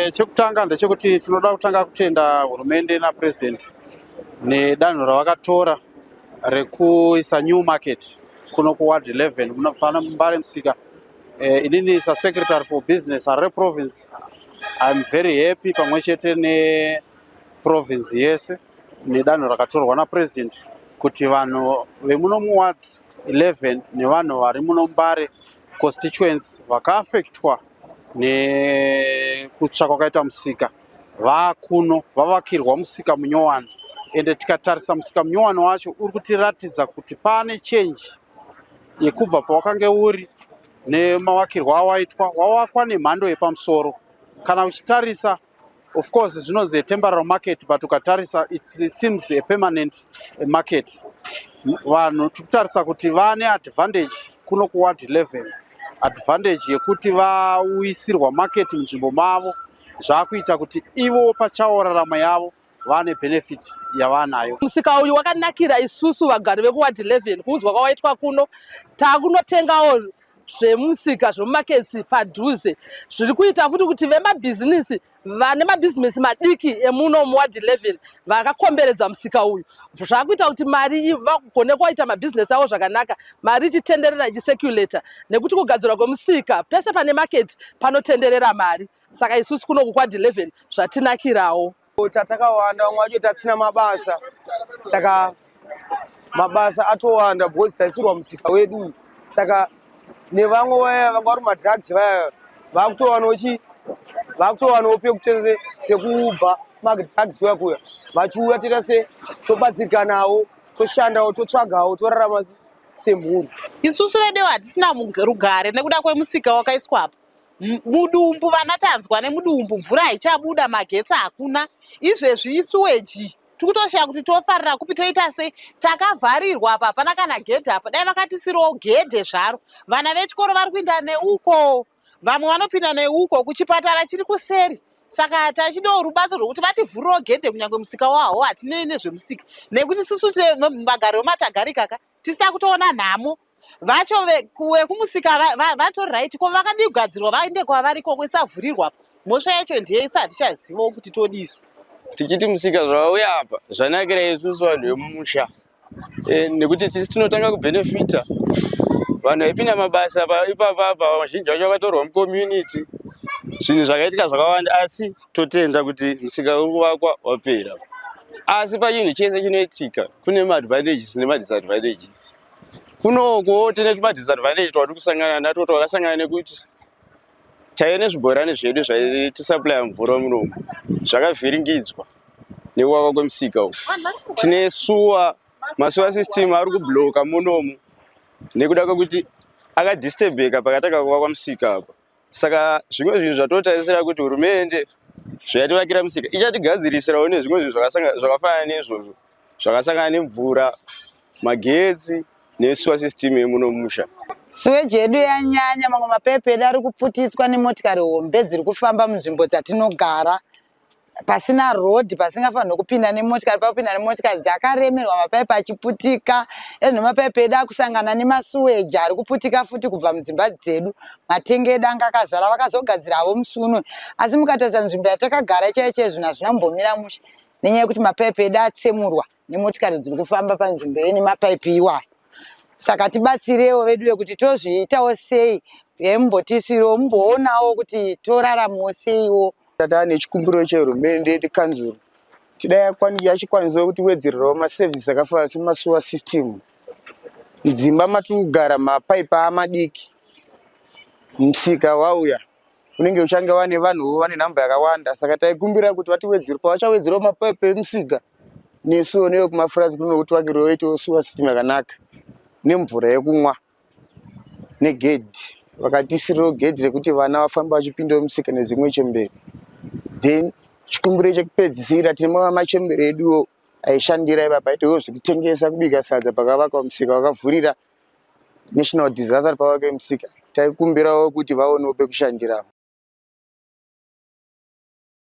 Eh, chekutanga ndechekuti tinoda kutanga kutenda hurumende napresident nedanho ravakatora rekuisa new market kuno kuward 11 pana mbare musika eh, inini sasecretary for business harare province iam very happy pamwe chete neprovince yese nedanho rakatorwa napresident kuti vanhu vemuno muward 11 nevanhu vari muno mbare constituency vakaafectwa nekutsva kwakaita musika vakuno vavakirwa musika munyowani ende tikatarisa musika munyowani wacho uri kutiratidza kuti pane chenji yekubva pawakange uri nemavakirwo awaitwa wawakwa nemhando yepamusoro kana uchitarisa Of course zvinonzi a temporary market but ukatarisa it seems a permanent market. Vanhu tikutarisa kuti vane advantage kuno kuward 11 advantage yekuti vauyisirwa market munzvimbo mavo zvakuita kuti ivo pachawo rarama yavo vane benefit yavanayo. Musika uyu wakanakira isusu vagari vekuward 11 kuunzwa kwawaitwa kuno takunotengawo zvemusika zvemumaketsi padhuze zviri kuita futi kuti vemabhizinisi vane mabhizimisi madiki emuno muward 11 vakakomberedza musika uyu zvakuita kuti mari vagone kuwaita mabhizinesi avo zvakanaka mari ichitenderera ichiseculata nekuti kugadzirwa kwemusika pese pane maketi panotenderera mari saka isusu kuno kukwad 11 zvatinakirawo tatakawanda vamwe vacho tatsina mabasa saka mabasa atowanda because taisirwa musika wedu saka nevamwe vaya vanga vari madrugs vaya vakutowanawo chi vakutowanawo pekutese pekubva madrugs kuya kuya vachiuya toita se tobatsirikanawo toshandawo totsvagawo torarama semhuri isusu vedewo hatisina rugare nekuda kwemusika wakaiswapo mudumbu vana tanzwa nemudumbu mvura haichabuda magetsi hakuna izvezvi isuweji tikutoshaya kuti tofarira kupi toita sei takavharirwa apa hapana kana gedhe apa dai vakatisirawo gedhe zvaro vana vechikoro vari kuinda neuko vamwe vanopinda neuko kuchipatara chiri kuseri saka tachidawo rubatso rwekuti vativhurirawo gedhe kunyange musika waho hatinei nezvemusika nekuti susu vagari vematagarikaka tisita kutoona nhamo vacho vekumusika vato right ko vakadii kugadzirwa vaende kwavari koko isavhurirwa mhosva yacho ndiye isa hatichazivawo kuti todiswa tichiti musika zvauya apa zvanakira isusu vanhu vemumusha e, nekuti tisi tinotanga kubhenefita vanhu vaipinda mabasa ipapa apa vazhinji vacho vakatorwa mucommunity zvinhu zvakaitika zvakawanda asi totenda kuti musika uri kuvakwa wapera asi pachinhu chese chinoitika kune maadvantages nemadisadvantages kunokuwo tine tumadisadvantage twatiri kusangana natwo twakasangana nekuti taive nezvibhorani zvedu zvaitisaplya mvura munomu zvakavhiringidzwa nekuvava kwemusika uku tine suwa masuwa system ari kubloka munomu nekuda kwekuti akadisturbeka pakatanga kuvakwa musika apa saka zvimwe zvinhu zvatotarisira kuti hurumende zvayativakira musika ichatigadzirisirawo nezvimwe zvinhu zvakafanana neizvozvo zvakasangana nemvura magetsi nesuwa system yemuno musha siweji yedu yanyanya mamwe mapepe edu ari kuputitswa nemotikari hombe dziri kufamba munzvimbo dzatinogara pasina road pasingafanirwe kupinda nemotikari pakupinda nemotikari dzakaremerwa mapaipi achiputika ezvino mapaipi edu akusangana nemasuweji ari kuputika futi kubva mudzimba dzedu matenga edu anga akazara vakazogadzira havo musi uno asi mukatarisa nzvimbo yatakagara chaiye chaiye zvinhu hazvina kumbomira mushe nenyaya yekuti mapaipi edu atsemurwa nemotikari dziri kufamba panzvimbo yene mapaipi iwayo saka tibatsirewo vedu vekuti tozviitawo sei yembotisiro mumboonawo kuti toraramawo seiwo tata nechikumbiro chehurumende nekanzuru tida yachikwanisawo kuti wedzererawo maservice akafanana semasuwa system mudzimba matiri kugara mapaipi amadiki msika wauya unenge uchange wane vanhuwo vane nhamba yakawanda saka taikumbira kuti vatiwedzere pavachawedzerawo mapepe emusika nesuwo nevekumafurazi kuno kuti vakirwe vaitewo suwa system yakanaka nemvura yekumwa negedhi vakatisirirawo gedhi rekuti vana vafambe vachipindawo musika nezimwe chembere then chikumbiro chekupedzisira tine mamwe machembere eduwo aishandira ipapa aitowo zvekutengesa kubika sadza pakavaka musika wakavhurira National Disaster Power Kemsika taikumbirawo kuti vaonewo pekushandirawo.